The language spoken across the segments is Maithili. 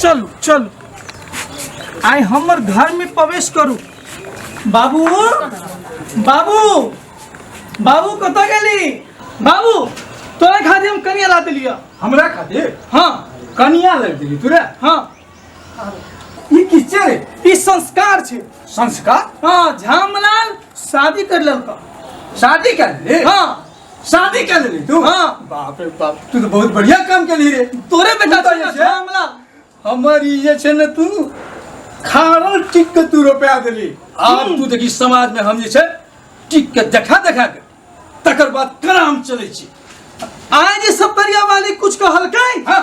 चलू चलू आइ हमर घर में प्रवेश करू बाबू बाबू बाबू कतऽ गेली बाबू तोरा खातिर हम कनिया ला देलियै हमरा खातिर हाँ कनिया लग देली तोरा हाँ ई की छै रे ई संस्कार छै संस्कार हाँ झामलाल शादी कर लेलका शादी कर ले हाँ शादी कर लेली तू हाँ। बाप रे बाप तू तो बहुत बढ़िया काम कर ली रे तोरे बेटा तू तो ये छे? मामला हमर ई जे छे ने तू खारल टिक के तू रुपया देली आब तू देखी समाज में हम जे छे टिक के देखा देखा के तकर बाद केना हम चले छी आए जे सप्तरिया वाली कुछ कहलकै हाँ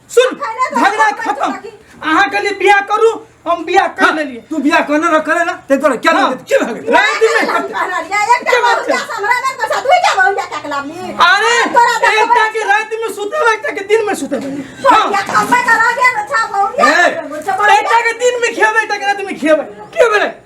सुन कहले तो झगड़ा अपन खत्म बात रखी। अहाँ के लिए बियाह करू हम बियाह कर हाँ, लेलिए तू बियाह करना ना करे ना ते तोरा क्या हाँ। लगे क्या लगे राय दी मैं करते। अरे एक टा के रात में सुते हुए, एक टा के दिन में सुते हुए। हाँ, एक टा के दिन में खेबे एक टा के रात में खेबे क्यों बेरे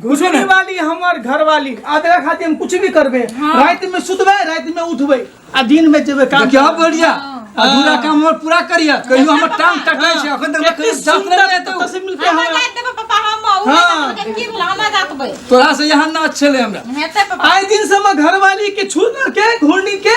घुसने वाली हमर घरवाली आ तेरा खातिर हम कुछ भी करबे हाँ। रात में सुतबे रात में उठबे आ दिन में जेबे काम क्या बढ़िया अधूरा काम हमर पूरा करिया कहियो हमर टांग टकै छै अखन तक कहियो जात नै रहते तो से मिलके हमरा हमरा जात देबे पापा हम उ हाँ। के की भेल हमरा जात बे तोरा से यहाँ ना अच्छे ले हमरा हेते पापा आए दिन से हम घरवाली के छू के घूरनी के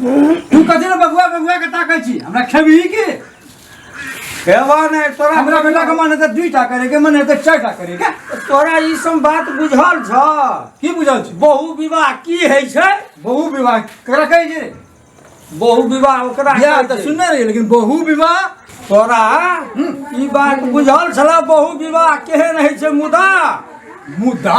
तू कथी रे बबुआ बबुआ के ताकै छी हमरा खेबही की खेबा नहि तोरा हमरा बेटा के मन हेतै दुइटा करे के मन हेतै चारिटा करे के तोरा ई सब बात बुझल छ की बुझल छी बहु विवाह की है छै बहु विवाह करा कहै छी रे बहु विवाह ओकरा बियाह कहै तऽ छै। सुनने रही लेकिन बहु विवाह तोरा ई बात बुझल छला बहु विवाह केहन है छै मुदा मुदा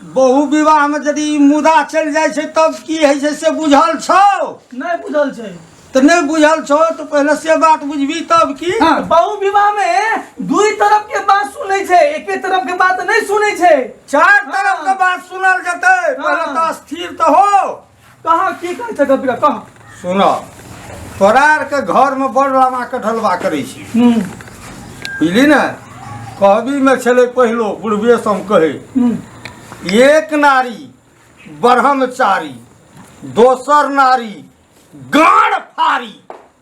बहु विवाह में यदि ई मुदा चलि जाइ छै तब की होइ छै से बुझल छौ नहीं बुझल छै तऽ नहि बुझल छौ तऽ पहिले से बात बुझबी तब की हाँ, बहु विवाह में दुई तरफ के बात सुनै छै एके तरफ के बात नहीं सुनै छै चार तरफ के बात सुनल जेतै पहिले तऽ स्थिर तऽ हो कहाँ की कहै छै गपिया कह सुन तोरा आरके घरमे बड़ लामाके ढलवा करै छी हूँ बुझली ने कहबीमे छलै पहिलो बुढ़बे सम कहै हूँ एक नारी ब्रह्मचारी दोसर नारी गाँड फारी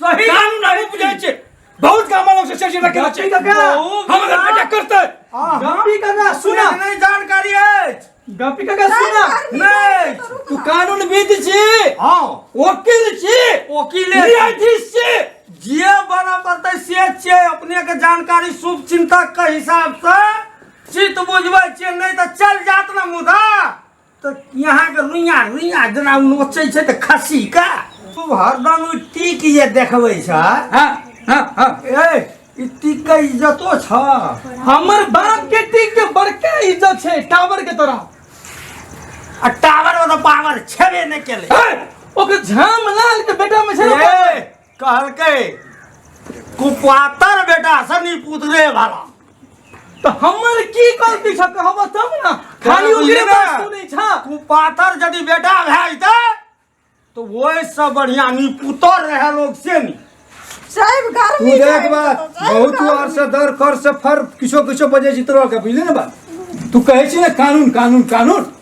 सही काम नहीं बुझे छे बहुत काम वालों से सर जी रखे छे हमरा बेटा करते गपी का सुना नहीं जानकारी है गपी का सुना नहीं तू कानून विद छी हां वकील छी वकील न्यायाधीश छी जे बना पड़ते से छे अपने के जानकारी शुभ चिंतक के हिसाब से चित बुझबै छे नहीं तो चल जात ना मुदा तऽ यहाँके रुइया रुइया जेना नोचै छै तऽ खस्सी का तू हरदम ई टीक जे देखबै छ हाँ हाँ हाँ ए ई टीक के इज्जतो छ हमर बाप के टीक के बड़का इज्जत छै टावर के तरह आ टावर वाला पावर छेबे नहि केले हे, ओकर झाम लाल के बेटा में छै ने। ए, कहलकै कुपातर बेटा सनी पुतरे वाला तो हमर की गलती छ कहब तब ना खाली बुझलियै ओकरे ने? बात सुनै छ कुपातर यदि बेटा भए जेतै तो ओहि से बढ़िया नी पुतर रहे लोग से नी साहब तू गर्मी देख बात बहुत तू आर से दर कर से फर किछो किछो बजे जितरो के बुझले ना बात तू कहै छी ना कानून कानून कानून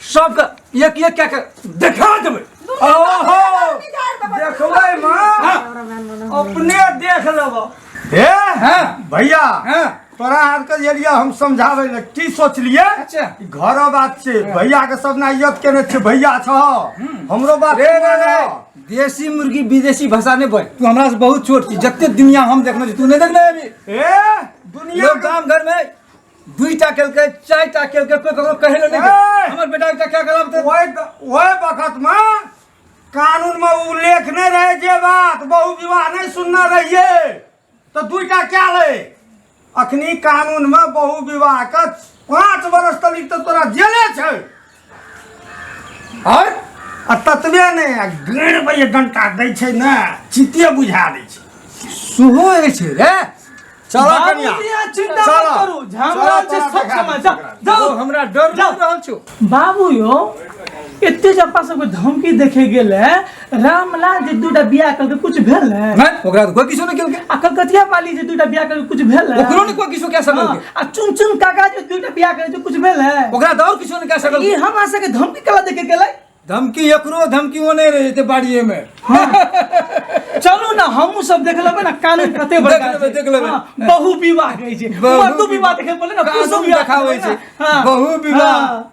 सबके एक एक कए के देखा देबै ओहो देखबै माँ अपने देख लेब हे हँ भैया हँ तोरा आरके जे लिए हम समझाबै लए की सोचलियै अच्छा। ई घरो बात छै भैया के सब ना इज्जत केने छै भैया छ हमरो बात रे रे रे मानऽ। देसी मुर्गी विदेशी भाषा नहीं बोल तू हमरा से बहुत छोट छी जते दुनिया हम देखने छी तू नहीं देखने अभी ए दुनिया लोग गांव घर में दुईटा केलकै चारिटा केलकै कोई ककरो कहै लए नहि गेल। हमर बेटा एकटा क्या करब तऽ ओहि ओहि वक्तमे कानूनमे उल्लेख नहि रहै जे बात बहु विवाह नहि सुनने रहियै तऽ दूटा क्या लै अखनी कानूनमे बहु विवाहके पाँच वर्ष तक तऽ तोरा जेले छै और आ ततबे ने आ गड़ बजे डंटा दै छै ने चिते बुझा दै छै सुहो होइ छै रे चल कनिया बाबूजी अहाँ चिंता चल। मत करू झामरा चल, छै तोरा सब देखा समय दै जाउ छियै ओकरा। जाउ हमरा डर जाउ। लागि रहल छौ बाबू यौ एते जे अपना सबके धमकी देखे गेल है रामलाल जे दूटा बियाह करके कुछ भेल ने हैं? ओकरा तो कोई किसी ने क्यों के आ कलकतिया पाली जे दूटा बियाह करके कुछ भेल ने ओकरो ने कोई किसी क्या सकल हाँ, के आ चुन चुन काका जे दूटा बियाह करे जे कुछ भेल ने ओकरा तो और किसी ने क्या सकल ई के हमरा सबके धमकी कला देके गेलै धमकी एकरो धमकी वो नहीं रहे थे बाड़िए में चलू ना हमहूँ सब देख लेबै ना कानून कते बड़का देख लेबै, छै। देख लेबै। हाँ, बहु विवाह कहै छै बहु मर्दो विवाह देखे पड़ले ना कानून पुरुषो विवाह देखाबै देखे पड़लै छै। ने। हाँ, बहु विवाह। हाँ,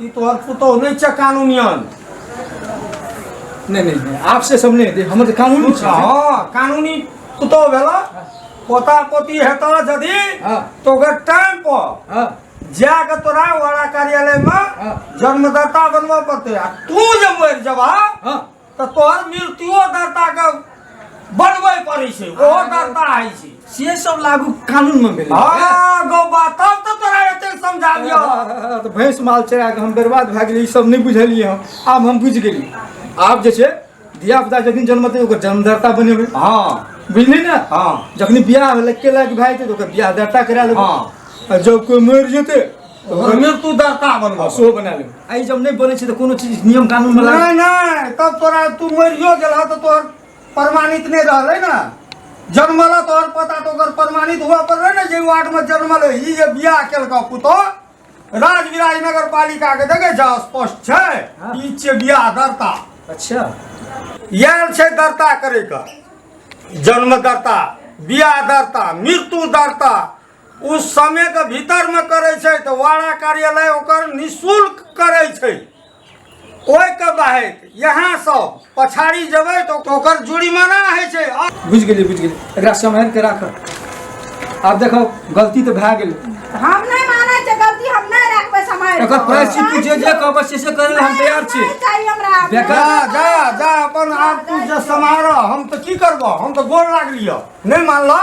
ई तोहर पुतोह नहि छै कानूनियन नहीं नहीं नहीं आप से सब नहीं हम तो कानूनी छै हाँ कानूनी पुतोह भेला पोता पोती हेता यदि हाँ। तो ओकर टाइम पर हाँ जाके तोरा वाला कार्यालय में हाँ। जन्मदाता बनबऽ पड़तै आ तू जे मरि जबह हाँ तऽ तोहर मृत्युओ दाताके बनबै पड़ै छै ओहो दाता होइ छै से सब लागू कानून में भेलै हँ गौ बा तब तऽ तोरा एते समझाबियो तऽ भैंस माल चरा कऽ हम बर्बाद भए गेलियै ई सब नहि बुझलियै हम आब हम बुझि गेलियै आब जे छै धिया पुता जखन जन्मतै ओकर जन्मदाता बनेबै हँ बुझली ने हँ जखन बियाह भेलै केलाके भए जेतै तऽ ओकर बियाह दाता करा लेबै हँ। आ जब कोइ मरि जेतै ओहिमे तू दरता बनबो आ सेहो बना लेब आइ जब नहि बनै छै तऽ कोनो चीज नियम कानून बला नहीं नहीं तब तोरा तू मरियो गेला तो तोहर प्रमाणित नहीं रहले ना जन्मला तोहर पता तो ओकर प्रमाणित हुआ पर रहे ना जे वार्ड में जन्मल है ई जे बियाह केलका पुतो राज विराज नगर पालिका के देखे जा स्पष्ट छै हाँ। ई छै बियाह दर्ता अच्छा इएह छै दर्ता करैके जन्म दर्ता बियाह दर्ता मृत्यु दर्ता ओ समयके भीतरमे करै छै तऽ वाड़ा कार्यालय ओकर निःशुल्क करै छै ओहिके बाहेक यहाँ सब पछाड़ी जेबै तऽ ओकर जुर्माना होइ छै बुझि गेलियै बुझि गेलियै एकरा सम्हारि के राख आब देखो गलती तऽ भए गेल हम नहि मानै छै गलती हम नहि राखबै समय एकर प्रायश्चित तू जे जे कहबै से से करै हम तैयार छी चाहिए हमरा बेकार जा जा जा अपन आब तू जे समारह हम तऽ की करबह हम तऽ गोर लागलियह नहि मानलह